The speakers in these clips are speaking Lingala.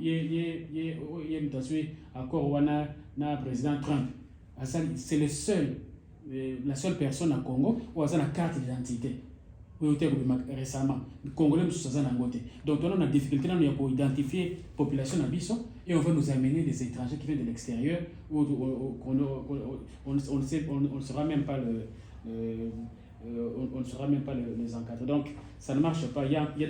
ye ye ye oh, ye moto azwi accord wana na président trump asali c'est le seul euh, la seule personne na congo oyo aza na carte d'identité oyo te kobima récemment congolais mosusu aza nango te donc tona na difficulté nano ya koidentifie population na biso et on va nous amener des étrangers qui viennent de l'extérieur où on ne sera même pas le, le euh, on ne sera même pas les encadrer donc ça ne marche pas il y a, il y a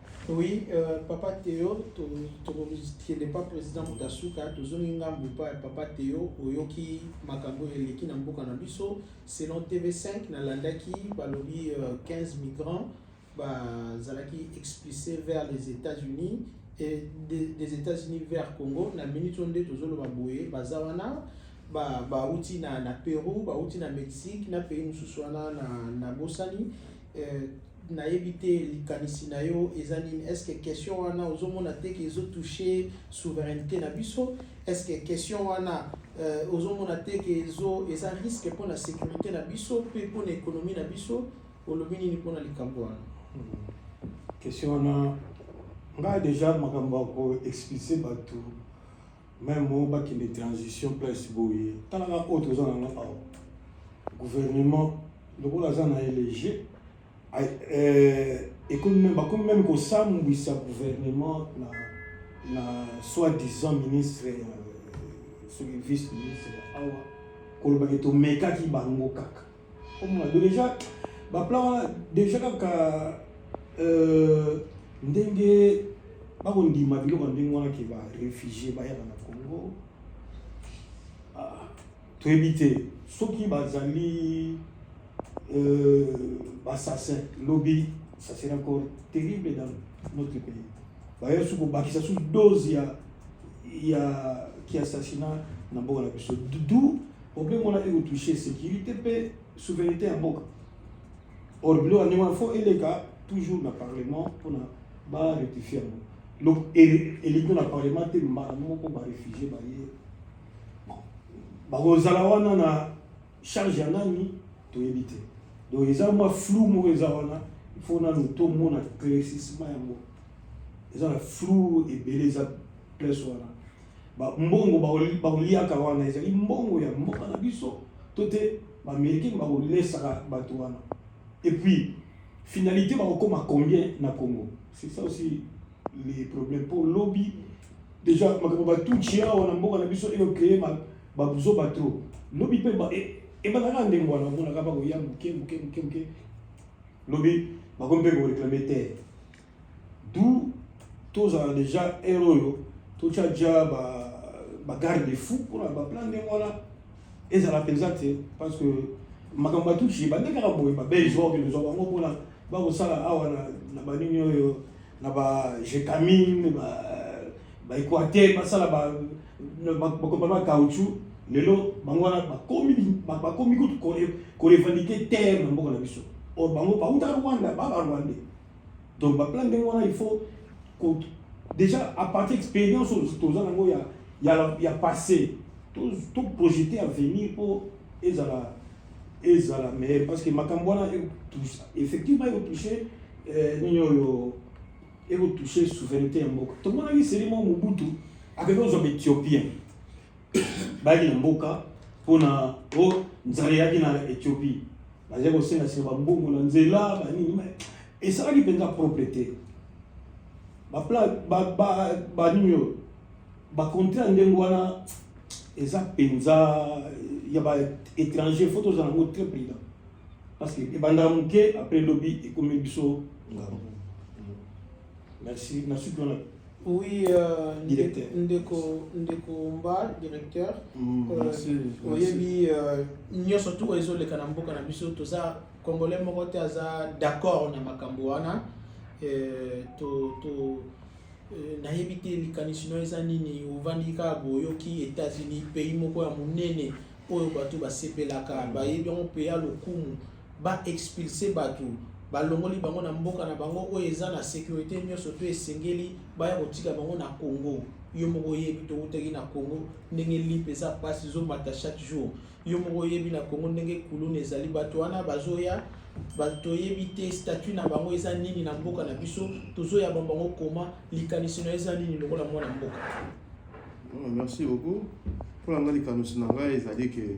Oui, euh, papa Théo, tokende mpa président moto asuka tozongi ngambo mpa ya papa Théo oyoki makambo oyo eleki na mboka na biso selon TV5 nalandaki balobi euh, 15 migrants bazalaki expulsé vers les États-Unis et des, des États-Unis vers Congo na minute oyo nde tozoloba boye baza wana bauti ba na, na Pérou bauti na Mexique na pays mosusu wana na, na bosani Euh, nayebi te likanisi na yo eza nini est ce que question wana ozomona te ke ezotouche souveraineté na biso est ce que question wana euh, ozomona te ke ezo eza risque mpo na sécurité na biso mpe mpo na économie na biso olobi nini mpo na likambo wana hmm. question wana ngai déjà makambo ya koexplise bato Même bon ba qui de transition place boye. Tala na autre oza na nga awa. Gouvernement lokola aza na elege euh, ekomi meme bakomi meme kosambwisa gouvernement na na soi-disant ministre ya euh, soki vice ministre ya awa kolobaki tomekaki bango kaka omona do deja baplan wana deja kaka euh, ndenge bakondima biloko ndenge wana ke barefugie bayaka na congo ah, toyebi te soki bazali euh, bassassin lobi ça serait encore terrible dans notre pays baye su kobakisa su dose ya ya ki assassinat na mboka na biso du Obe mona eko touche securite pe souveraineté ya mboka. Or bilo ndenge wana faut eleka toujours na parlement pona ba rectifier yango. Donc eleki na parlement te mbala moko ba réfugier ba ye. Bakozala wana na charge ya nani toyebi te. Donc eza mwa flou moko eza wana il faut nanu tomona claircissement yango. Eza na flou ebele eza place wana. ba mbongo baoliaka wana ezali mbongo ya mboka na biso to te baamerikaine bakolesaka bato wana et puis finalité bakokoma combien na congo c'est ça aussi les problèmes mpo lobi déjà makambo batuci awa na mboka na biso eocreye babuzoba trop lobi mpe ebandaka ndenge wana omonaka bakoya moke moke moke moke lobi bakomi mpe koreklame te d'où tozala déjà heure oyo totya dja bagarde ba fou mpona baplan ndenge wana ezala mpenza te parce que makambo batuti ebandi kaka boye babelge oyo ozwa bango mpona bakosala awa na banini oyo na bajetamine baequateur basala bakopa ba caoutchou lelo bango wana bakomi kutu korevandike terre na mboka na biso or bango bautaka rwanda ba barwandais donc baplan ndenge wana il faut déjà à partir expérience toza nango ya, ya, ya passé toprojete avenir mpo ezala ezala meilleur parce que makambo wana effectivement ekotouche euh, nini oyo ekotouche souveraineté ya mboka tomonaki selimo mobutu akende ozwa baethiopien bayaki na mboka mpo na o nzala eyaki na ethiopie bazali kosengaseka bambongo na nzela banini esalaki mpenza propre te banini oyo bakonte ya ndenge wana eza mpenza ya baétranger fo tozala yango très prudent parce que ebandaka moke après lobi ekomi biso ngambo Merci. Merci bien. Oui, euh, directeur. Ndeko, ndeko Mba, directeur. Mm, euh, merci. Oyebi, euh, nyoso tu oyo ezoleka na mboka na biso toza congolais moko te aza d'accord na makambo wana euh, to, to, euh, nayebi te likanisi no eza nini ovandi kaka boyoki états-unis pays moko ya monene oyo bato basepelaka bayebi yango mpe ya lokumu ba expulse bato balongoli bango na mboka na bango oyo eza na securite nyonso to esengeli baya kotika bango na congo yo moko oyebi towutaki na congo ndenge lipe eza mpasi ezomata chaque jour yo moko oyebi na congo ndenge kuluna ezali bato wana bazoya toyebi te statut na bango eza nini na mboka na biso tozoya ba bango koma likanisi na eza nini lokola mwana mboka ah, merci beaucoup mpo na ngai likanisi na ngai ezali ke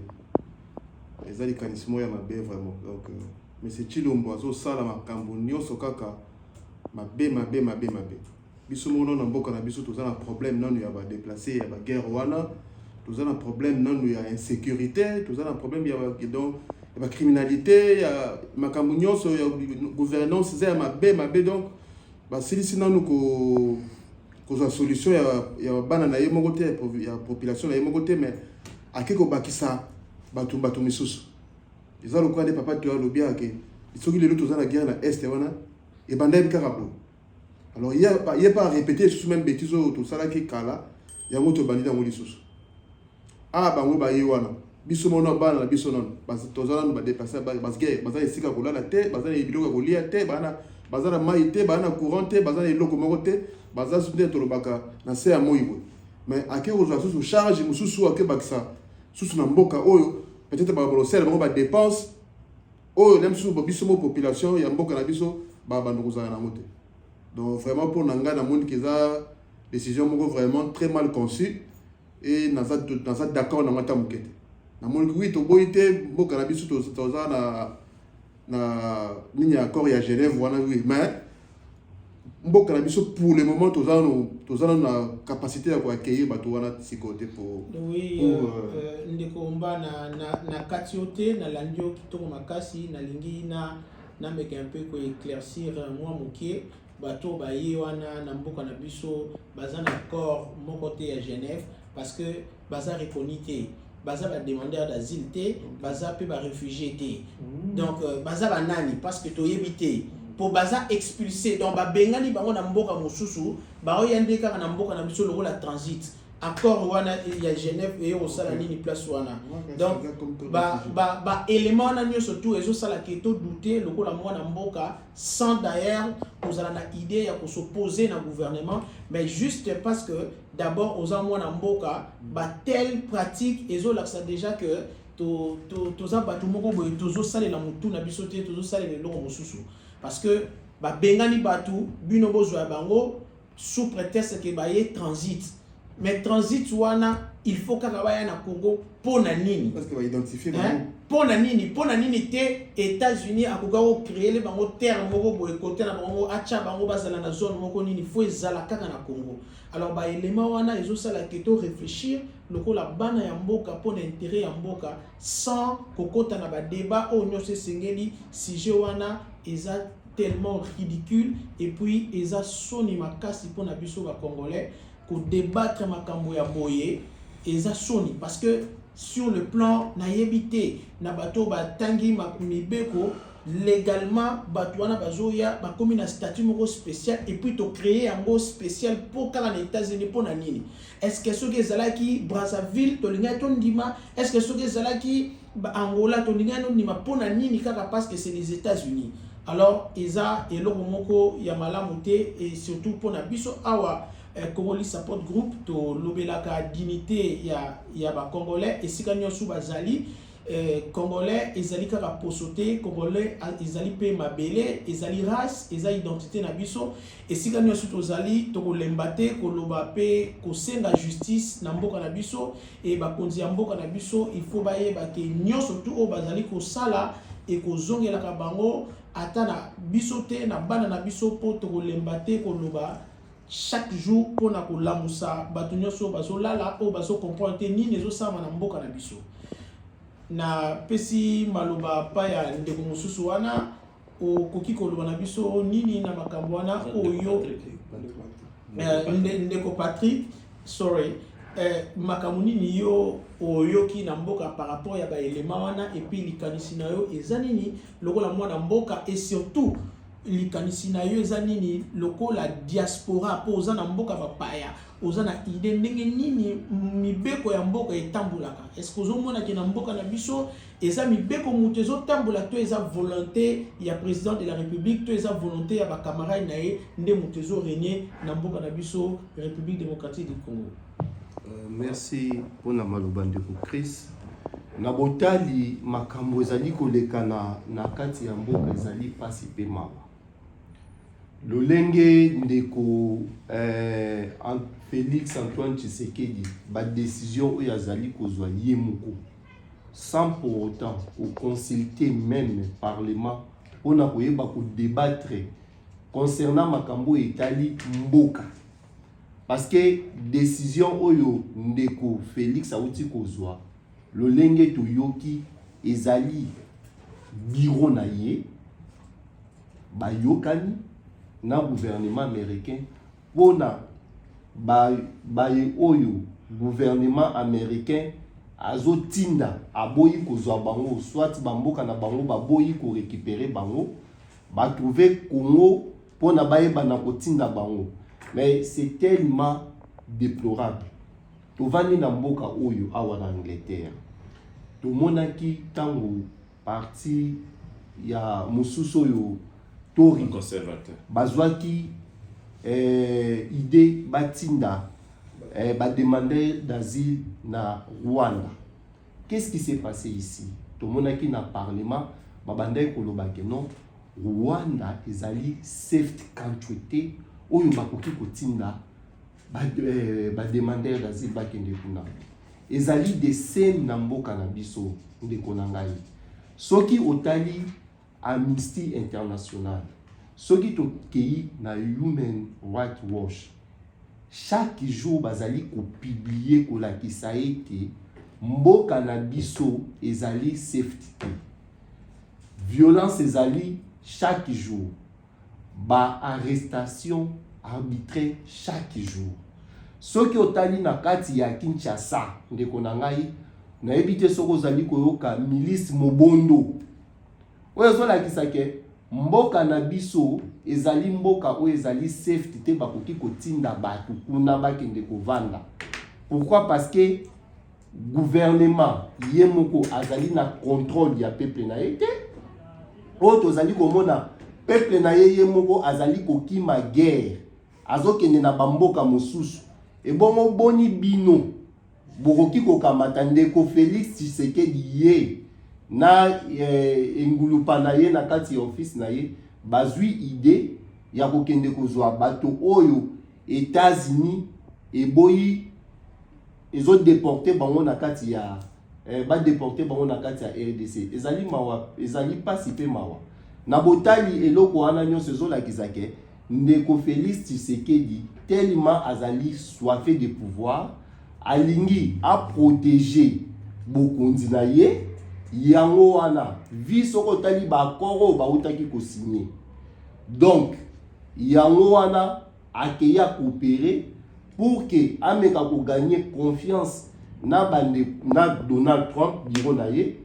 eza likanisi moko ya mabe vraiment donc euh, monsieur chilombo azosala makambo nyonso kaka mabe mabe mabe mabe biso moko nano na mboka na biso toza na problème nano ya badeplace ya baguerre wana toza na problème nano ya insécurité toza na problème ya donc ya bacriminalité ya makambo nyonso ya gouvernance eza ya mabe mabe donc basilisi nano ko kozwa solution ya, ya bana na ye moko te ya population na ye moko te mais ake kobakisa bato bato misusu eza lokola nde papa toya alobi ake soki lelo toza na guerre na est wana ebandaki kaka boye alors ye pa arepete lisusu meme betise oyo tosalaki kala yango tobandi yango lisusu Ah bango baye wana biso mona bana na biso nano toza nano badepase basge baza na esika kolala te baza na biloko ya kolia te bana baza na mai te baza na courant te baza na eloko moko te baza susu nde tolobaka na se ya moi boye mais ake kozwa susu charge mosusu akebakisa susu na mboka oyo peut-être bakolosala bango badepense oyo na misusu biso mo population ya mboka na biso babanda kozala nango te donc vraiment mpo na ngai namoni keza décision moko vraiment très mal conçue Et naza naza d'accord na mata mukete. Na moni oui to boyi te mboka na biso to toza na na nini accord ya Genève wana oui mais mboka na biso pour le moment toza no toza na capacité ya ko accueillir bato wana sikoyo te pour oui pour, euh, euh, euh ndeko mba na na na kati yo te na landi yo kitoko makasi nalingi na na meka un peu ko éclaircir euh, moi mokie bato baye wana na mboka na biso baza na corps moko te ya genève parce que baza reconi te baza bademandeur d'asile te baza mpe baréfugie te mm. donc euh, baza banani parce que toyebi te mpo baza expulse donc babengani bango na mboka mosusu baoya nde kaka na mboka na biso lokola transit accord wana ya genève eye kosala nini place wana donc baélément wana nyonso tout ezosala ke todoute lokola mwana mboka sans d'ailleurs kozala na idée ya kosoposer na gouvernement mais juste parce que d'abord oza mwana mboka batelle pratique ezolakisa déjà que toza bato moko boye tozosalela motu na biso te tozosalela eloko mosusu parce que babengani bato bino bozwa ya bango sous pretexte que baye transit mais transit wana il faut kaka baya na congo mpo na nini Parce que ba identifier Hein? bango. mpo na nini mpo na nini te états-unis akoka kocreele bango terre moko boye kote na bango moko atya bango bazala na zone moko nini fo ezala kaka na congo alors baelema wana ezosala ke to réfléchir lokola bana ya mboka mpo na intérêt ya mboka sans kokota na badébat oyo nyonso esengeli sujet wana eza tellement ridicule et puis eza soni makasi mpo na biso ba congolais ko débattre makambo ya boye eza soni parce que sur le plan nayebi te na bato batangi mibeko légalement bato wana bazoya bakomi na statut moko spécial et puis to créer yango spécial mpo kaka na états-unis mpo na nini Est-ce que soki ezalaki Brazzaville tolingaki tondima? Est-ce que soki ezalaki Angola tolingaki tondima? Mpo na nini kaka parce que c'est les États-Unis? Alors eza eloko moko ya malamu te et surtout mpo na biso awa eh, Congolese Support Group tolobelaka dignité ya, ya ba Congolais esika nyonso bazali eh, Congolais ezali kaka poso te, Congolais ezali mpe mabele, ezali race, eza identité na biso Esika nyonso tozali tokolemba te koloba mpe kosenga justice na mboka na biso e bakonzi ya mboka na biso il faut bayeba ke nyonso tu oyo bazali kosala ekozongelaka bango ata na biso te na bana na biso mpo tokolemba te koloba chaque jour mpo na kolamusa bato nyonso oyo bazolala oyo bazocomprendre te nini ezosalama na mboka na biso napesi maloba pa ya ndeko mosusu wana okoki koloba na biso nini na makambo wana oyo eh, ndeko patrick sorry eh, makambo nini yo oyoki na mboka par rapport ya baelema wana epuis likanisi na yo eza nini lokola mwana mboka et surtout likanisi na yo eza nini lokola diaspora mpo oza na mboka bapaya oza na idée ndenge nini mibeko ya mboka etambolaka estce ozomonake na mboka na biso eza mibeko moto ezotambola to eza volonté ya président de la république to eza volonté ya bacamarade na ye nde moto ezoregne na mboka na biso république démocratique du congo euh, merci mpona maloba ndeko chris na botali makambo ezali kolekana na kati ya mboka ezali mpasi mpe mawa lolenge ndeko eh, félix antoine tshisekedi badesizio oyo azali kozwa ye moko sans pour autant ko consulter même parlement pona koyeba ko débattre concernant makambo etali mboka parce que décision oyo ndeko Félix auti kozwa lolenge toyoki ezali biro na ye bayokani na gouvernement américain pona ba baye oyo gouvernement américain azotinda aboyi kozwa bango soit bamboka na bango baboyi korekipere bango batrouve congo mpona bayebana kotinda bango mais c'est tellement déplorable tovandi na mboka oyo awa na angleterre tomonaki ntango Parti ya mosusu oyo tori conservateur bazwaki eh, idee batinda eh, bademandeur d'asile na Rwanda. Qu'est-ce qui s'est passé ici? Tomonaki na parlement babandaki koloba ke non Rwanda ezali safe country te oyo bakoki kotinda ba, euh, ba demandeur d'asile bakende kuna ezali de scène na mboka na biso ndeko na ngai soki otali amnesty international soki tokei na human right watch chaque jour bazali kopublie kolakisa ete mboka na biso ezali safety te violence ezali chaque jour ba arrestation arbitraire chaque jour soki otali na kati ya kinshasa ndeko na ngai nayebi te soki ozali koyoka milice mobondo oyo ezolakisa ke mboka na biso ezali mboka oyo ezali safety te bakoki kotinda bato kuna bakende kovanda pourquoi parce que gouvernement ye moko azali na contrôle ya peuple na ye te oyo tozali komona peuple na ye ye moko azali kokima guerre azokende na bamboka mosusu ebongo boni bino bokoki kokamata ndeko felix tshisekedi ye na eh, engulupa na ye na kati ya office na ye bazwi idee ya kokende kozwa bato oyo etats-unis eboyi ezo deporter bango na kati ya eh, ba deporter bango na kati ya RDC ezali mawa ezali pasi pe mawa na botali eloko wana nyonso ezolakisa ke ndeko Felix Tshisekedi tellement azali soife de pouvoir alingi aproteger bokonzi na ye yango wana vi soki otali baakor oyo bautaki kosigne donc yango wana akeyi akoopere pour ke ameka koganye confiance na bande na donald trump biro na ye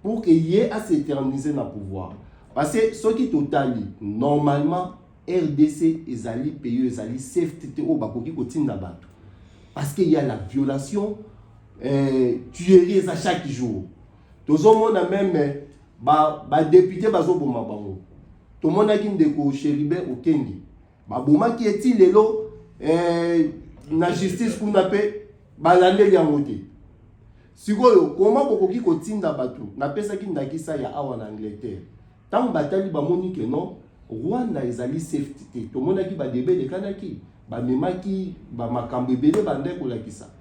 pour ke ye aseternise na pouvoir parce que soki totali normalement rdc ezali pays ezali safety te oyo bakoki kotinda bato parce que ya la violation euh, tuerie eza chaque jour tozomona meme badepute ba bazoboma bango tomonaki ndeko cheribe okendi babomaki ye ti lelo eh, na justice kuna mpe balandeli yango te sikoyo koma bokoki kotinda bato napesaki ndakisa ya awa na angleterre ntango batali bamoni ke non rwanda ezali safety te tomonaki badebe elekanaki bamemaki bamakambo ebele banda kolakisa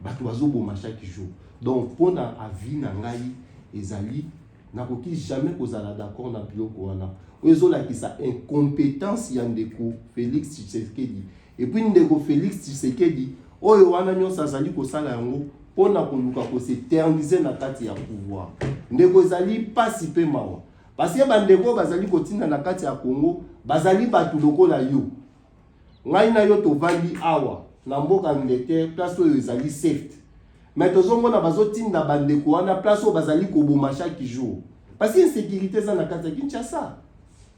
bato bazoboma chaque jour donc mpo na avis na ngai ezali nakoki jamais kozala d'accord na biloko wana oyo ezolakisa incompétence ya ndeko félix tshisekedi epuis ndeko félix tshisekedi oyo wana nyonso azali kosala yango mpo na koluka koseternise na kati ya pouvoir ndeko ezali mpasi mpe mawa paske bandeko oyo bazali kotinda na kati ya congo bazali bato lokola yo ngai na yo tovandi awa na mboka angleterre place oyo ezali safe me tozomona bazotinda bandeko wana place oyo bazali koboma chaque jour parce insécurité eza na kati ya kinshasa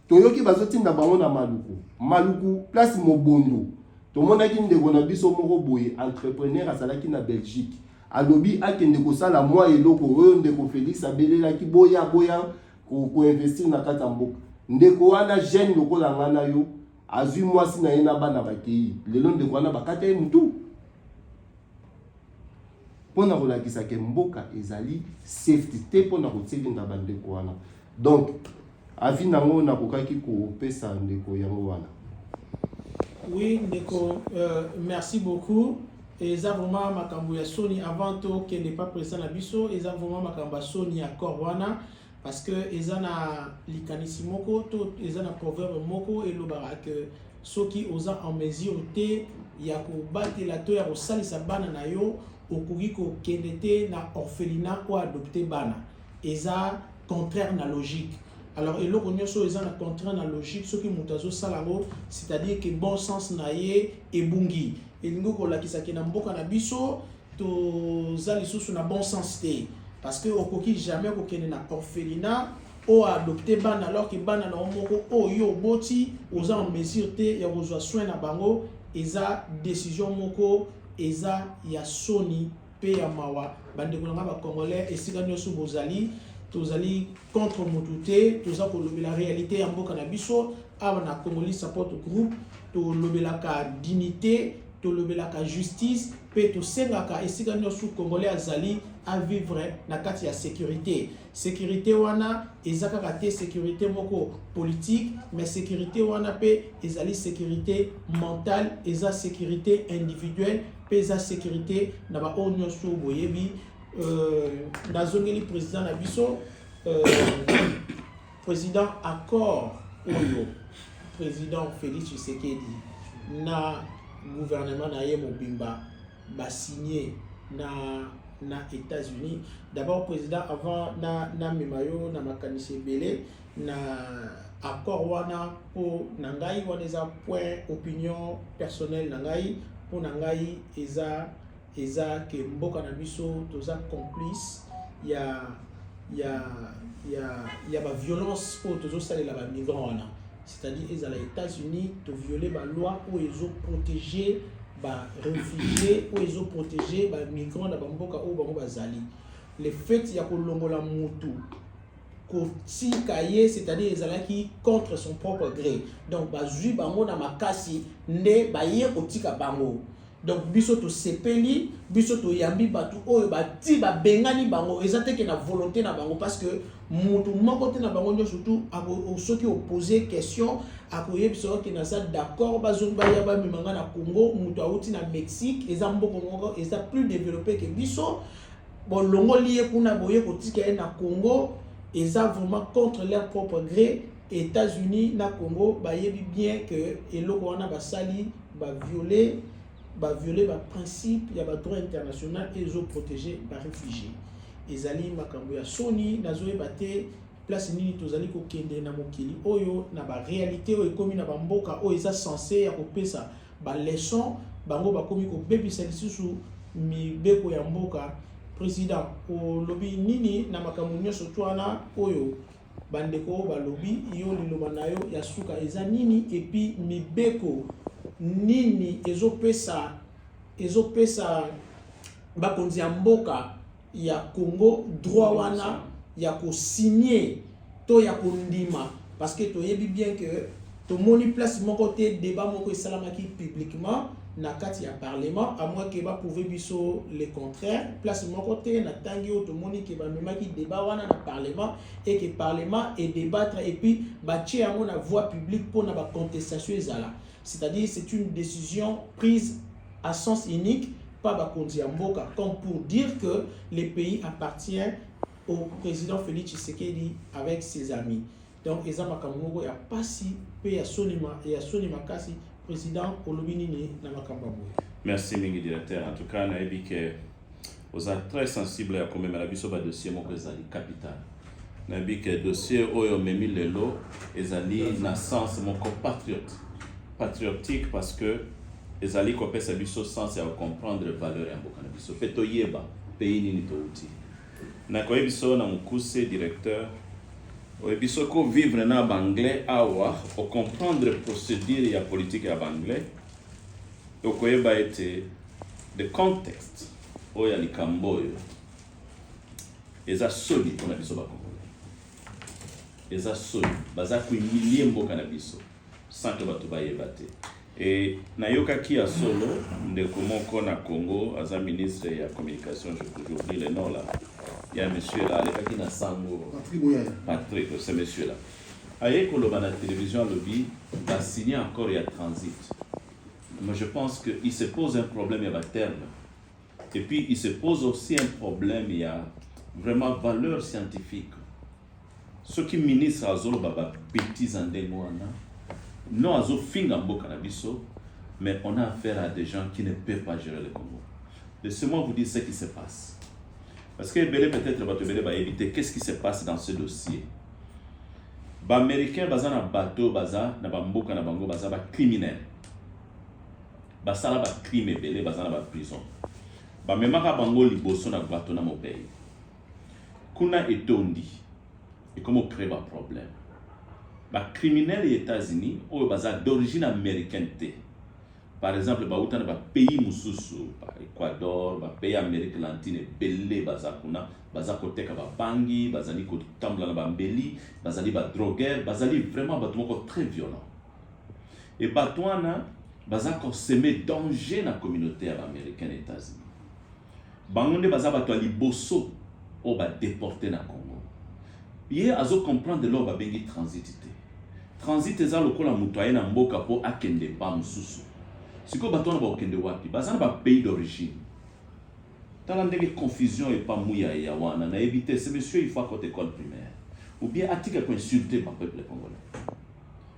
toyoki bazotinda bango na maluku maluku place mobondo tomonaki ndeko na biso moko boye entrepreneur azalaki na belgique alobi akende kosala mwa eloko oyo ndeko felix abelelaki boya boya koinvestir na kati ya mboka ndeko wana jeune lokola ngai na yo azwi mwasi na ye na bana bakei lelo ndeko wana bakata ye motu mpo na kolakisa ke mboka ezali safety te mpo na kotilinga bandeko wana donc avi nango nakokaki kopesa ndeko yango wana oui ndeko euh, merci beaucoup eza vraiment makambo ya soni avant tokende pa president na biso eza vraiment makambo ya soni ya corps wana parce que eza na likanisi moko to eza na proverbe moko elobaka que soki oza en mesure te ya kobatela to ya kosalisa bana na yo okoki kokende te na orphelinat oyo adopte bana eza contraire na logique alors eloko nyonso oyo eza na contraire na logique soki moto azosala yango c'est-à-dire que bon sens na ye ebungi elingi kolakisa ke na mboka na biso toza lisusu na bon sens te parce que okoki jamais kokende na orphelinat oyo adopte bana alors ke bana na yo moko oyo yo oboti oza en mesure te ya kozwa soin na bango eza décision moko eza ya soni mpe ya mawa bandeko na ngai bacongolais esika nyonso bozali tozali contre motu te toza kolobela réalité ya mboka na biso awa na congolais support group tolobelaka dignité tolobelaka justice mpe tosengaka esika nyonso congolais azali avivre na kati ya sécurité sécurité wana eza kaka te sécurité moko politique mais sécurité wana mpe ezali sécurité mentale eza sécurité individuelle mpe eza sécurité na baoyo nyonso boyebi euh, nazongeli président na biso euh, President, accord oyo President Felix Tshisekedi na gouvernement na ye mobimba basigne na na États-Unis. D'abord président avant na na memayo na makanisi ebele na accord wana po na ngai wana eza point opinion personnelle na ngai po na ngai eza Eza que mboka na biso toza complice ya ya ya ya ba violence oyo tozo salela ba migrants wana c'est-à-dire ezala États-Unis to violer ba loi oyo ezo protéger ba réfugiés oyo ezo protéger ba migrants na ba mboka oyo bango bazali le fait ya kolongola mutu kotika ye c'est-à-dire ezalaki contre son propre gré donc bazwi bango na makasi nde baye kotika bango donc biso tosepeli biso toyambi bato oyo bati babengani bango eza te ke na volonté na bango parce que moto moko te na bango nyonso tu soki opose question akoyebisa yo ke naza d'accord bazongi baya bamema ngai na congo moto awuti na mexique eza mboko moko eza plus développé ke biso bolongoli ye kuna boye kotika ye na congo eza vraiment contre leur propre gré états-unis na congo bayebi bien que eloko wana basali baviole baviole baprincipe ya badroit international ezoprotege baréfugie ezali makambo ya soni nazoyeba te place nini tozali kokende na mokili oyo na barealité oyo ekomi na bamboka oyo eza sense ya kopesa ba leçon bango bakomi kobebisa lisusu mibeko ya mboka president olobi nini na makambo nyonso twana oyo bandeko balobi yo liloba na yo ya suka eza nini epi mibeko nini ezopesa ezopesa bakonzi ya mboka ya Congo droit wana ya ko signer to ya kondima parce que toyebi bien que tomoni place moko te débat moko esalamaki publiquement na kati ya parlement à moins que baprouve biso le contraire place moko te na ntangi oyo tomoni ke bamemaki débat wana na parlement et que parlement edebattre et puis batye yango na voie publique mpo na bacontestation ezala C'est-à-dire c'est une décision prise à sens unique par bakonzi ya mboka comme pour dire que le pays appartient au président Félix Tshisekedi avec ses amis. Donc eza makambo moko ya pasi mpe ya soni ya soni makasi président olobi nini na makambo ya boye. Merci mingi directeur. En tout cas nayebi que Oza très sensible ya komemela biso ba dossier moko ezali capital. Nayebi ke dossier oyo omemi lelo ezali na sens moko patriote patriotique parce que ezali kopesa biso sens ya kocomprendre valeur ya mboka na biso mpe toyeba pays nini touti. Nakoyebi biso na mokuse directeur oyebi soki ovivre na banglais awa ocomprendre procédure ya politique ya banglais Okoyeba ete the context oyo ya likambo oyo eza soni mpo na biso bakongole, eza soni, baza kuimilie mboka na biso sans que bato bayeba te. E, nayokaki ya solo ndeko moko na Congo aza ministre ya communication, je peux oublier le nom là, ya monsieur là alekaki na sango Patrick, c'est monsieur là Aye koloba na television alobi ba signe accord ya transit mais je pense que il se pose un problème ya ba terme et puis il se pose aussi un problème ya vraiment valeur scientifique soki ministre azoloba ba betises ya ndenge wana non azofinga mboka na biso mais on a affaire à des gens qui ne peuvent pas gérer le Congo laissez-moi vous dire ce qui se passe parce que ebele peut-être bato ebele bayebi te qu'est-ce qui se passe dans ce dossier ba américain baza na bato baza na bamboka na bango baza ba criminel basala ba crime ebele baza na ba prison bamemaka bango liboso na bato na mobei kuna etondi ekomi ocree ba problème ba criminel ya états-unis oyo baza d'origine américaine te par exemple bauta na bapays mosusu ba ecuador bapays ya amérique lantine ebele baza kuna baza koteka babangi bazali kotambola na bambeli bazali badroguer bazali vraiment bato moko très violent e bato wana baza koseme danger na communauté ya baaméricaine états-unis Bango nde baza bato ya liboso oyo ba deporte na Congo. Ye azo comprendre eloko babengi transit te. Transit eza lokola moto aye na mboka mpo akende mpa mosusu. Sikoyo bato wana bakokende wapi? Baza na ba pays d'origine. Tala ndenge confusion epa Muyaya wana nayebi te ce monsieur il faut akota ecole primaire ou bien atika ko insulter ba peuples congolais.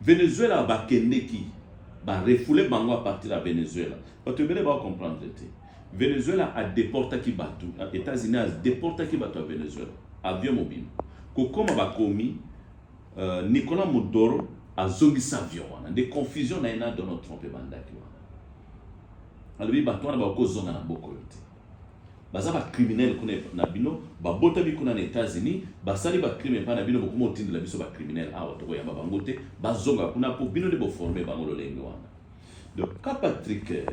Venezuela bakendeki ba refoule bango a partir ya Venezuela. Bato ebele ba comprendre te. Venezuela a deportaki bato, Etats-Unis a deportaki bato ya Venezuela. Avion mobimba. Kokoma bakomi uh, Nicolas Maduro azongisa avion wana. Nde confusion na ye na Donald Trump ebandaki wana. Alobi bato wana bakozonga na boko yo te. baza ba criminel kuna na bino babotami kuna na Etats-Unis basali ba crime epai na bino bokoma otindela biso ba criminel awa tokoyamba bango te bazonga kuna mpo bino nde boforme bango lolenge wana donc ka Patrick euh,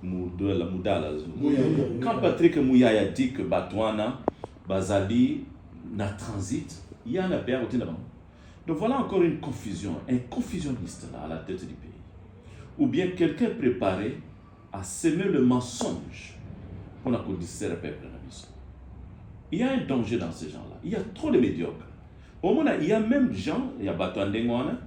mudala mudala ka Patrick Muyaya dit que bato wana bazali na transit ya na père otinda bango donc voilà encore une confusion un confusionniste là à la tête du pays ou bien quelqu'un préparé a seme le mensonge pour la distraire peuple na biso. Il y a un danger dans ces gens-là. Il y a trop de médiocres. Au moins, il y a même gens, il y a bato ya ndenge wana,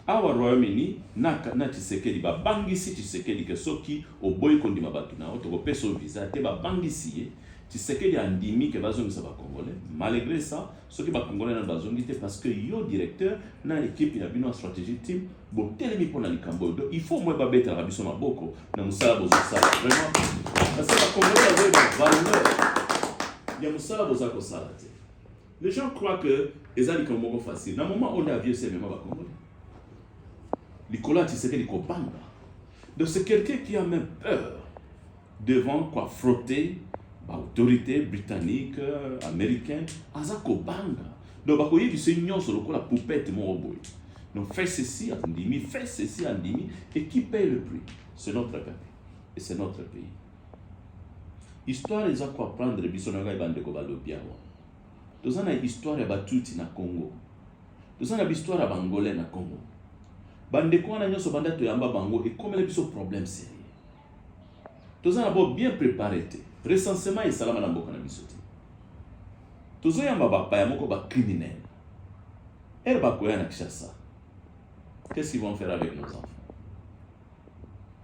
awa Royaume-Uni na, na Tshisekedi babangisi Tshisekedi ke soki oboyi kondima bato na yo tokopesa yo visa te, babangisi ye. Tshisekedi andimi ke bazongisa ba Congolais. Malgré ça, soki ba congolais na bazongi te parce que yo directeur na équipe ya bino stratégie team botelemi mpona likambo oyo donc il faut moi babetelaka biso maboko na mosala bozosala vraiment parce que ba congolais bazoyi ba valeur ya mosala boza kosala te les gens croient que eza likambo moko facile na moment oyo nde avion esemema ba congolais likolo ya tisekeli kobanga donc c'est quelqu'un qui a même peur devant quoi frotter ba autorité britannique américain aza kobanga donc bakoyebisa ye nyonso lokola poupete moko boye donc fait ceci andimi fait ceci andimi et qui paye le prix c'est notre kaka et c'est notre pays histoire eza koapprendre biso na ngai bandeko balobi awa toza na histoire ya batuti na congo toza na bahistoire ya bangolais na congo bandeko wana nyonso banda toyamba bango ekomela biso problème sérieux toza na bo bien prepare te recensement esalama na mboka na biso te tozoyamba bapaya moko bacriminel ere bakoya na kishasa qu'est-ce qu'ils vont faire avec nos enfants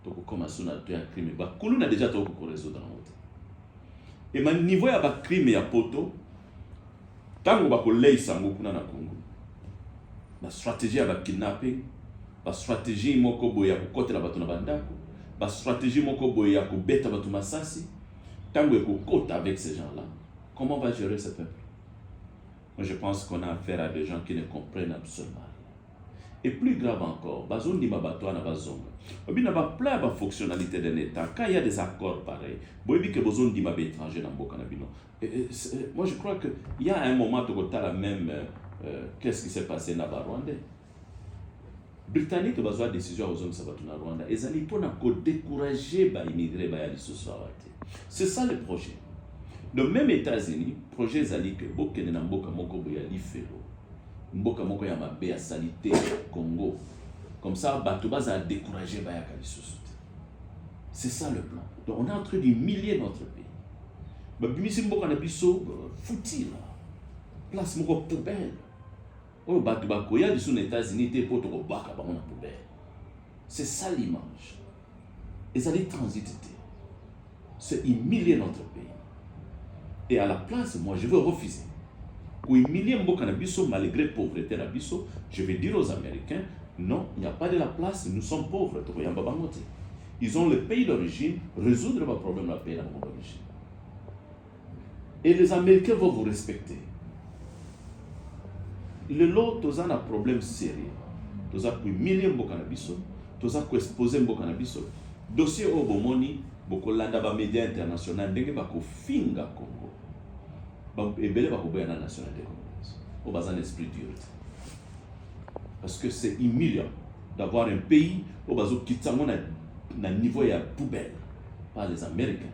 tokokoma so na to ya crime bakuluna deja tokoki koresoudre yango te ema niveau ya bacrime ya poto ntango bakoleisa yango kuna na congo na stratégie ya bakidnapping ba strategie moko boye ya kokotela bato na bandako, ba strategie moko boye ya kobeta bato masasi, ntango ekokota avec ces gens là comment va gérer ce peuple moi je pense qu'on a affaire à des gens qui ne comprennent absolument et plus grave encore bazondima bato wana bazonga obi na baplan ya bafonctionnalité d'un état quand il y a des accords pareil boyebi ke bozondima baétranger na mboka na bino moi je crois que il y a un moment tokotala même euh, qu'est ce qui s'est passé na barwandais Britannique bazwa decision ya kozongisa bato na Rwanda ezali mpo na kodecourage baimigre baya lisusu awa te. C'est ça le projet. De même États-Unis, projet ezali ke bokende na mboka moko boye ya lifelo, mboka moko ya mabe ya salite Congo, comme ça bato bazala decourage bayaka lisusu te. C'est ça le plan. Donc on est en train d'humilier notre pays. Babimisi mboka na biso euh, futi la place moko poubelle oyo bato bakoya lisusu na Etats-Unis te mpo tokobaka bango na poubelle. C'est ça l'image. Ezali transit te. C'est humilier notre pays. Et à la place, moi, je veux refuser. Kohumilie mboka na biso malgré pauvreté na biso, je vais dire aux Américains, non, il n'y a pas de la place, nous sommes pauvres, tokoyamba bango te. Ils ont le pays d'origine, résoudre ba problème na pays na bango d'origine. et les américains vont vous respecter lelo toza na problème sérieux toza kohumilie mboka na biso toza koexpose mboka na biso dossier oyo bomoni bokolanda bamédia international ndenge bakofinga congo ebele bakoboya na nationalité congolaise oyo baza na esprit dur te parce que c'est humiliant d'avoir un pays oyo bazokitisa yango na niveau ya poubelle par les américains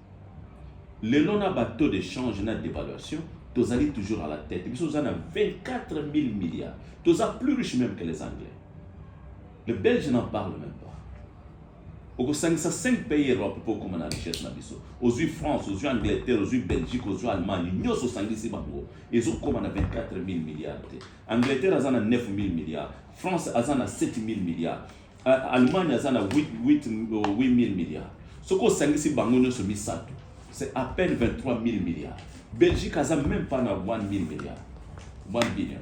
lelo na ba taux de change na devaluation tozali toujours à la tête biso toza na 24 000 milliards toza plus riche même que les anglais le belge n'en parle même pas okosangisa 5 pays europe mpo okoma na richesse na biso ozwi france ozwi angleterre ozwi belgique ozwi allemagne nyonso osangisi bango ezokoma na 24 000 milliards te angleterre aza na 9 000 milliards france aza na 7 000 milliards Allemagne aza na 8000 milliards. Soko osangisi bango nyonso misato, c'est à peine 23000 milliards. Belgique aza même pas na 1000 milliards. 1 billion.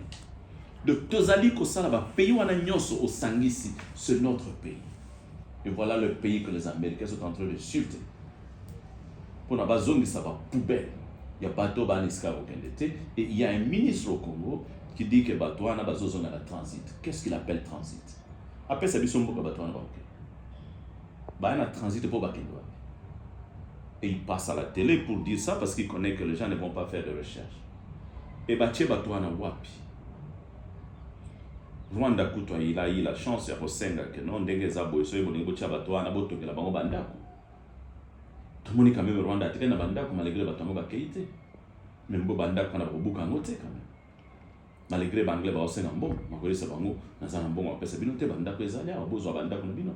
Donc tozali kosala ba pays wana nyonso osangisi, c'est notre pays. Et voilà le pays que les Américains sont en train de suivre. Pour na bazongisa ba poubelle ya bateau ba niska kokende te et il y a un ministre au Congo qui dit que bateau wana bazozonga na transit. Qu'est-ce qu'il appelle transit? apesa biso mboka bato wana bakoke baya na transit mpo bakende wapi et il passe à la télé pour dire ça parce qu'il connaît que les gens ne vont pas faire de recherche et batie bato wana wapi rwanda kutu ayila ayila chance ya kosenga ke no ndenge eza boye soki bolingi botia bato wana botongela bango bandako tomoni quand même rwanda atikali na bandako malgré bato yango bakei te meme bo bandako wana bakobuka yango te quand même malgre banglais baosenga mbongo nakoyebisa bango naza na mbongo bapesa bino te bandako ezali awa bozwa bandako na bino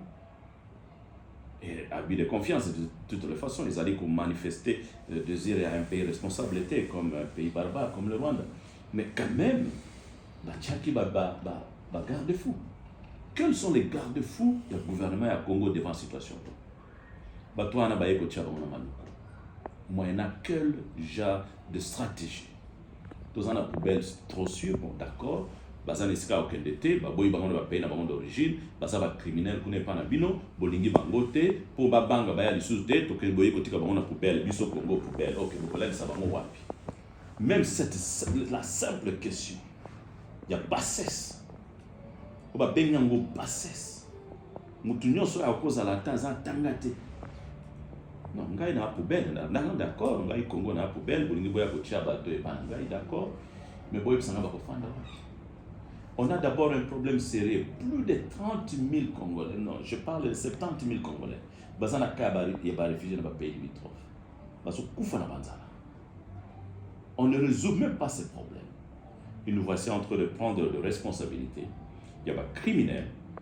eh, abus de confiance de toutes les façons ezali komanifeste le euh, désir ya un pays responsable te comme un pays barbare comme le rwanda mais quand même batiaki bagarde fou quels sont les garde fou ya gouvernement ya congo devant situation to bato wana baye kotia bango na maluku moyena quel genre de stratégie toza na poubelle trop sûr bon d'accord baza na esika ya kokende te baboyi bango na bapaye na bango d'origine baza bacriminel kuna epa na bino bolingi bango te mpo babanga baya lisusu te tokei boye kotika bango na poubelle biso congo poubelle ok bokolalisa bango wapi même cette, la simple question ya bassesse oyo babengi yango bassesse Mutu nyonso oyo akozala ata aza tanga te. Non, ngai na poubelle na nanga d'accord, ngai Congo na poubelle, bolingi boya kotia bato epa na ngai d'accord, mais boyebisa ngai bakofanda wapi. On a d'abord un problème sérieux. Plus de 30 000 Congolais, non, je parle de 70 000 Congolais, baza na cas ya ba réfugiés na ba pays limitrophes. Bazo kufa na banzala. On ne résout même pas ces problèmes. Et nous voici en train de prendre de responsabilités. Il y a des criminels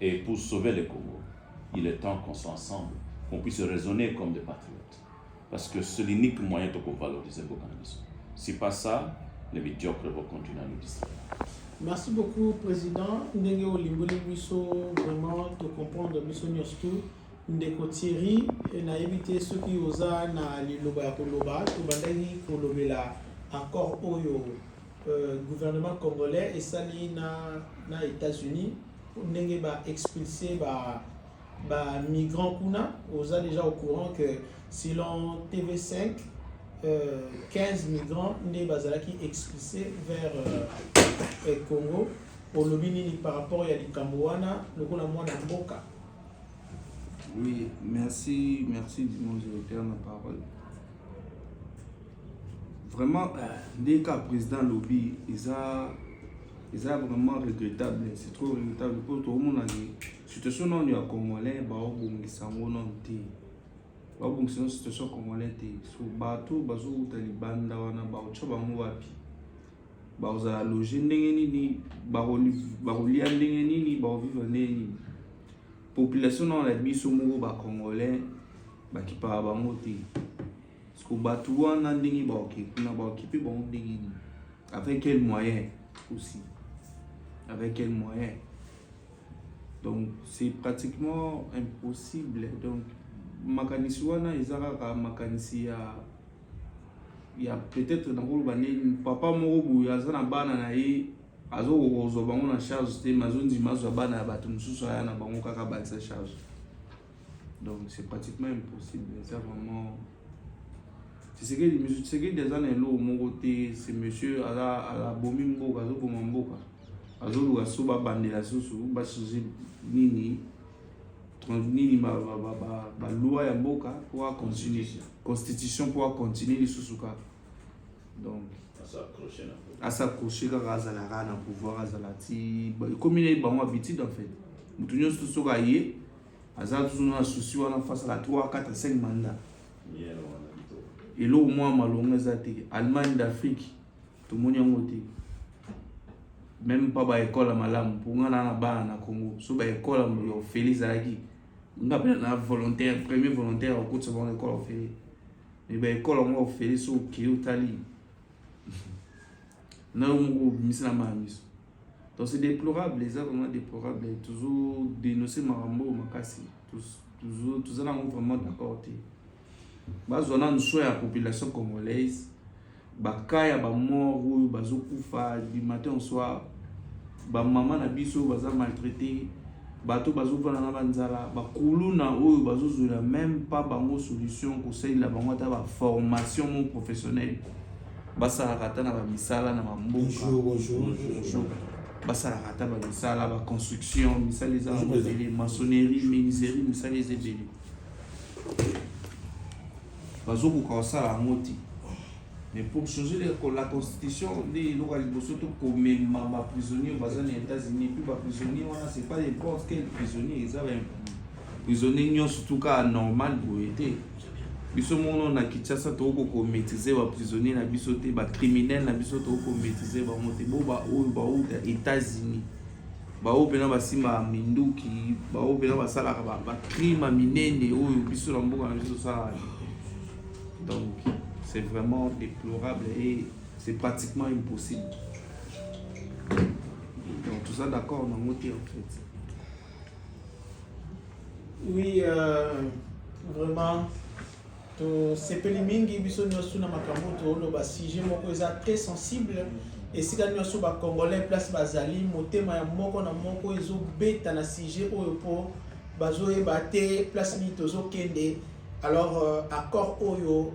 Et pour sauver le Congo, il est temps qu'on soit ensemble, qu'on puisse raisonner comme des patriotes. Parce que c'est l'unique moyen de valoriser le cannabis. Si pas ça, les médiocres vont continuer à nous distraire. Merci beaucoup, Président. Ndenge Olimboli Bisso, vraiment, te comprendre Bisso Nyostu. ndeko thierry eh, nayebi te soki oza na liloba ya koloba tobandaki kolobela accord oyo euh, gouvernement congolais esali na, na états-unis ndenge ba expulse ba ba migrants kuna oza déjà au courant que selon tv5 euh, 15 migrants nde bazalaki expulse vers euh, congo olobi nini par rapport ya likambo wana lokola mwana mboka oui merci merci du monde de la parole vraiment euh, ndenge kaka président alobi eza eza vraiment regrettable c'est trop regrettable mpo tokomona ke situation nano ya congolais baobongisa yango nano te babongisa yango situation ya congolais te so bato bazowuta libanda wana baotya bango wapi bakozala loge ndenge nini bakolia ndenge nini bakovivre ndenge nini population nao na biso moko ba congolais bakipaka bango te siko bato wana ndenge baoke kuna baokipe bango ndenge nini avec quel moyen aussi avec quel moyen donc c'est pratiquement impossible donc makanisi wana eza kaka makanisi ya ya peut-être nakoloba nini papa moko boye aza na bana na ye azo kozwa bango na charge te mais azondima azwa bana ya bato mosusu aya na bango kaka abalisa charge donc c'est pratiquement impossible eza vraiment tisekedi misu tisekedi aza na eloko moko te ce monsieur aza abomi mboka azoboma mboka azoluka so babandela susu bachange nini nini baloi ya mboka mpo acontinue constitution mpo acontinue lisusu kaka donc asakroche kaka azala kaka na pouvoir azala ti ekomi naye bango habitude en fait moto nyonso soki aye aza tuzu na souci wana face la 3 4 5 mandat eloko mwa malonga eza te allemagne d'afrique tomoni yango te meme mpa baekole ya malamu mpo ngai naa na bana na congo so baekole ya ofele ezalaki nga mpe na volontaire premier volontaire akotisa bango na ekole ofele Mais ba ekolo ngo Felix au kiyo tali. Na yo moko bimisi na ma miso. Donc c'est déplorable, eza vraiment déplorable. Toujours dénoncer makambo makasi. Toujours tozala ngo vraiment d'accord te. Bazwa na nso ya population congolaise. ba cas ya ba mort oyo bazokufa du matin au soir ba mama na biso baza maltraite bato bazovanda na banzala bakuluna oyo bazozwela meme pa bango solution kosalela bango ata baformation mo professionnel basalaka ata na bamisala na bamboka basalaka ata bamisala baconstruction misala eza na mabele maçonnerie menuiserie misala eza ebele bazokoka kosala yango te mais pour changer la constitution nde eloko ya liboso to komema baprisonnier baza na états-unis puis baprisonnier wana c'est pas n'importe quel prisonnier eza prisonnier nyonso tuka normal boye te biso mono na kinshasa tokoki komaîtrise baprisonnier na biso te bacriminel na biso tokoki komaîtrise bango te bo baoyo bauta états-unis baoyo mpena basimbaka minduki baoyo mpena basalaka bacrime ya minene oyo biso na mboka na biso tosalaka donc c'est vraiment déplorable et c'est pratiquement impossible donc toza d'accord nango te en fait oui euh, vraiment tosepeli mingi biso nyonso na makambo toloba sujet moko eza très sensible esika nyonso bacongolais place bazali motema ya moko na moko ezobeta na sujet oyo mpo bazoyeba te place nini tozokende alors euh, accord oyo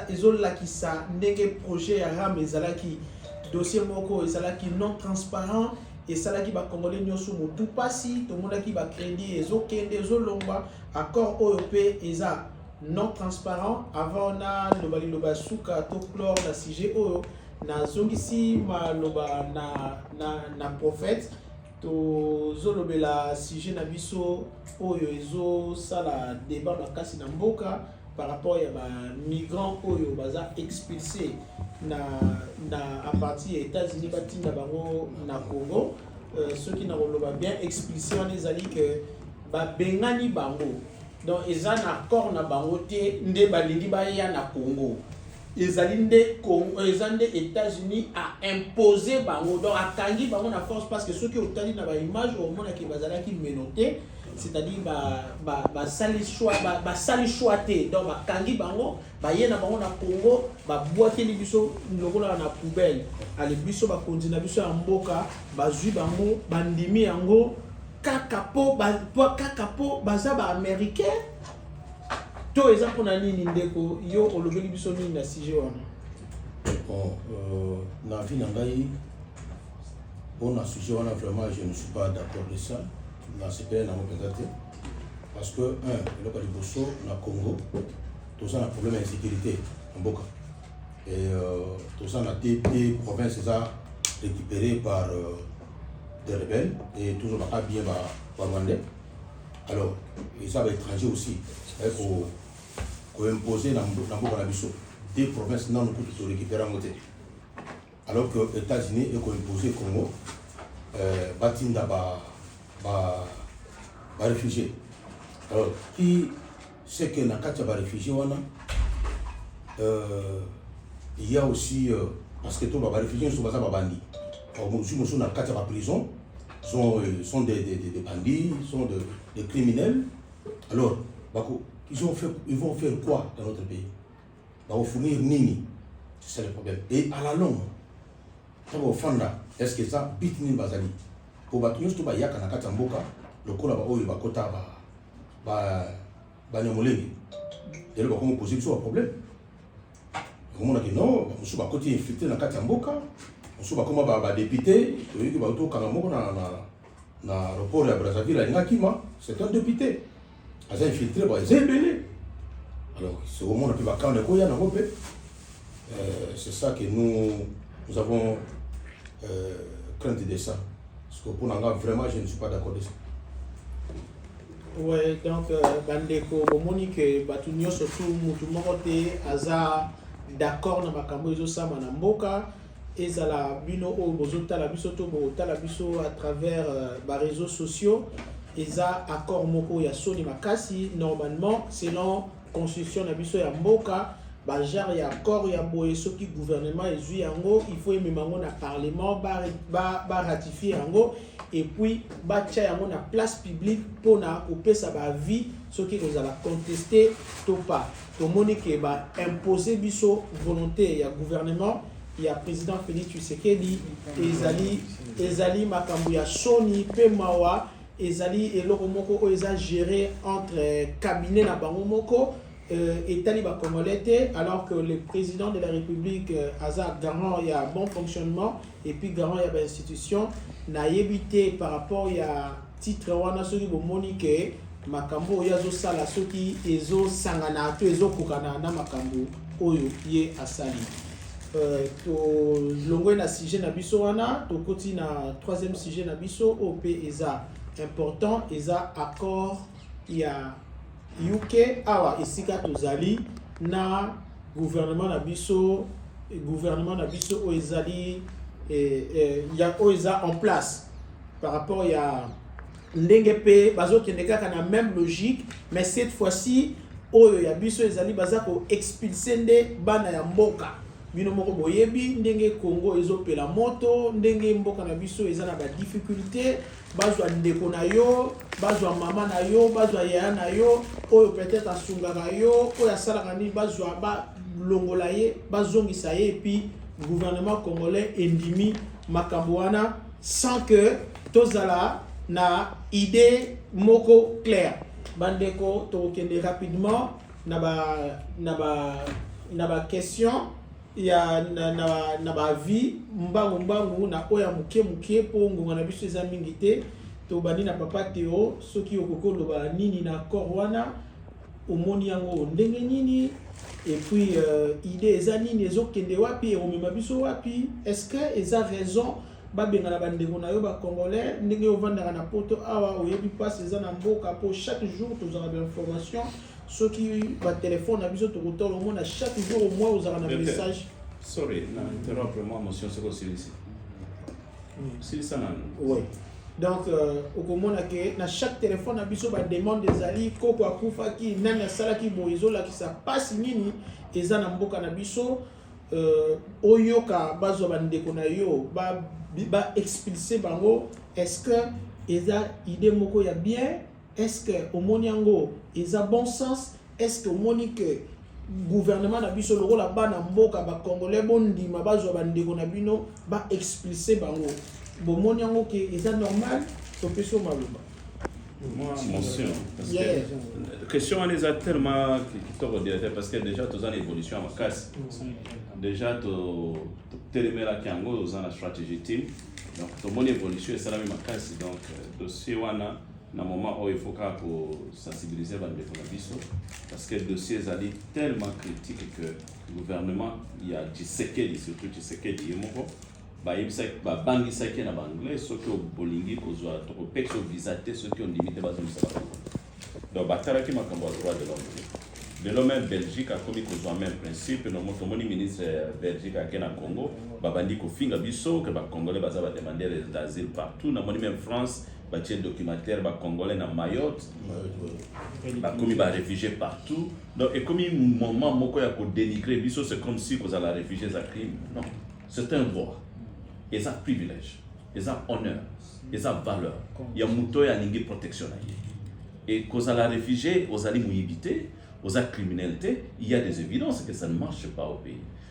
ezolakisa ndenge projet ya ram ezalaki dossier moko ezalaki non transparent esalaki bacongolais nyonso motu mpasi tomonaki bacrédit ezokende ezolongwa Accord oyo pe eza non transparent avant na loba liloba ya suka to clore na sujet oyo nazongisi maloba na, na, na prophète tozolobela sujet na biso oyo ezosala débat makasi na mboka par rapport ya bamigrant oyo baza expulse na, na à partir ya états-unis batinda bango na congo euh, soki nakoloba bien expulse wana ezali que babengani bango donc eza na accord na bango te nde balingi baya na congo ezali nde congo eza nde états-unis a impose bango donc akangi bango na force parce que soki otali na baimage omonaki bazalaki menote c'est-à-dire basali ba, choix basali ba choix te donc bakangi bango baye na bango na congo babwakeli biso lokola na poubelle ale biso bakonzi na biso ya mboka bazwi bango bandimi yango kaka po ba kaka po baza ba américain to eza mpona nini ndeko yo olobeli biso nini na sujet wana bon euh, na vie na ngai mpona sujet wana vraiment je ne suis pas d'accord de ça nasepele nango mpenza te parce que un eloko ya liboso na congo toza na problème ya insécurité na mboka et euh, toza na te te province eza récupéré par euh, des rebelles et toujours baka bien ba ba rwandais alors ils sont étrangers aussi c'est ko ko imposer na mboka na biso des provinces nanu kutu to récupérer yango te alors que états-unis eko imposer congo euh, batinda ba ba ba réfugié alors qui c'est que na kati ya ba réfugiés wana euh, il y a aussi euh, parce que to ba réfugiés nyonso baza babandi mosusu mosusu na kati ya ba prison sont, euh, sont des, des, des, des bandits sont de, des criminels alors bako, ils, ont fait, ils vont faire quoi dans notre pays bakofunir nini c'est ça le problème et à la longue ntango ofanda est ce que eza bit nini bazali mpo bato nyonso to bayaka na kati ya mboka lokola baoyo bakota banyamolenge lelo bakomi poze biso baproblème okomona ke non mosusu bakoti infiltre na kati ya mboka mosusu bakoma badepute toyoki bautokanga moko na na aeroport ya Brazzaville alinga kima c'est un député aza infiltré ba eza ebele alors sokomona mpe bakanda ekoya nango mpe euh, c'est ça que nous nous avons euh, crainte de ça parce que mpo na nga vraiment je ne suis pas d'accord de ça Ouais, donc euh, bandeko bomoni ke bato nyonso tu motu moko te aza d'accord na makambo ezosama na mboka ezala bino oyo bozotala biso to botala biso à travers euh, ba réseaux sociaux eza accord moko ya soni makasi normalement selon constitution na biso ya mboka bagenre ya accord ya boye soki gouvernement ezwi yango il faut emema yango na parlement baratifie ba, ba yango epuis batya yango na place publique mpona kopesa baavis soki ekozala conteste to pas Tomoni ke ba imposer biso volonté ya gouvernement ya président Félix Tshisekedi ezali ezali makambo ya soni pe mawa ezali eloko moko oyo eza gérer entre cabinet na bango moko euh, etali ba congolais te alors que le président de la république euh, aza garant ya bon fonctionnement et puis garant ya ba institution nayebi te par rapport ya Titre wana soki bomoni ke makambo oyo azosala soki ezosangana to ezokokana na makambo oyo ye asali. Euh, tolongwe na sujet na biso wana tokoti na troisième sujet na biso oyo mpe eza important eza accord ya uk awa esika tozali na gouvernement na biso gouvernement na biso oyo ezali eh, eh, ya oyo eza en place par rapport ya ndenge mpe bazokende kaka na même logique mais cette fois-ci oyo ya biso ezali baza koexpulse nde bana ya mboka bino moko boyebi ndenge congo ezopela moto ndenge mboka na biso eza na badifficulté bazwa ndeko na yo bazwa mama na yo bazwa yaya na yo oyo peut-être asungaka yo oyo asalaka nini bazwa balongola ye bazongisa ye epuis gouvernement congolais endimi makambo wana sans que tozala na idée moko claire bandeko tokokende rapidement na ba na ba na ba question ya na, na, na ba vie mbangu mbangu na oyo ya moke moke mpo ngonga na biso eza mingi te tobandi na papa teo soki okoki oloba nini na accord wana omoni yango ndenge nini et puis euh, idée eza nini ezokende wapi ekomema biso wapi est ce que eza raison babengana bandeko na yo bacongolais ndenge ovandaka na poto awa oyebi mpasi eza na mboka mpo chaque jour tozalaka bainformation soki batelefone na biso tokotala omona chaque jour omoi ozalaka na message sorry na interrompre mwa motion soki osilisi silisa nanu oui donc euh, okomona ke na chaque téléphone na biso bademande ezali koko akufaki nani asalaki boye ezolakisa mpasi nini eza na mboka na biso euh, oyoka bazwa bandeko na yo baexpulse ba bango est ce que eza idée moko ya bien Est ce que omoni yango eza bon sens? Est ce que omoni que gouvernement na biso lokola bana mboka ba congolais bondima bazwa bandeko na bino ba expulse bango bomoni yango ke eza normal topesi yo maloba question wana eza tellement kitoko directeur parce que déjà toza na évolution ya makasi déjà totelemelaki yango oza na stratégie team donc tomoni évolution esalami makasi donc euh, dossier wana na moment oyo il faut kaka kosensibilize bandeko na biso parce que dossier ezali tellement critique que gouvernement ya tshisekedi surtout tshisekedi ye moko bayebisaki babangisaki ye na baanglais soki olingi kozwa tokopekisa visa te soki ondimi te bazongisa bakongo donc batalaki makambo ya droit de l'homme lelo meme belgique akomi kozwa meme principe nomo tomoni ministre ya belgique ake na congo babandi kofinga biso ke bacongolais baza bademandere d'asile partout namoni meme france batie documentaire ba congolais na mayotte bakomi ba réfugié partout donc ekomi moment moko ya kodenigre biso c'est comme si kozala réfugié eza crime non c'est un droit eza privilège eza honneur eza valeur ya moto oyo alingi protection na ye e kozala réfugié ozali moyibi te oza criminel te il y a des évidences que ça ne marche pas au pays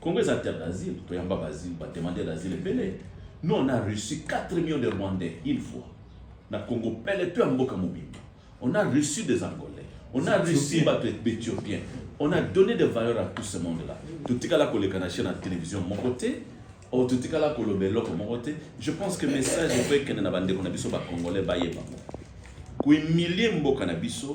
Congo eza terre d'asile, toyamba basile, ba demander d'asile ebele. Nous on a reçu 4 millions de Rwandais une fois. Na Congo pele to ya mboka mobimba. On a reçu des Angolais. On a reçu bato Ethiopiens. On a donné des valeurs à tout ce monde-là. Totikala koleka na chaîne na télévision moko te. Oh, totikala koloba eloko moko te. Je pense que message efo ekende na bandeko na biso ba Congolais bayeba. Kohumilie mboka na biso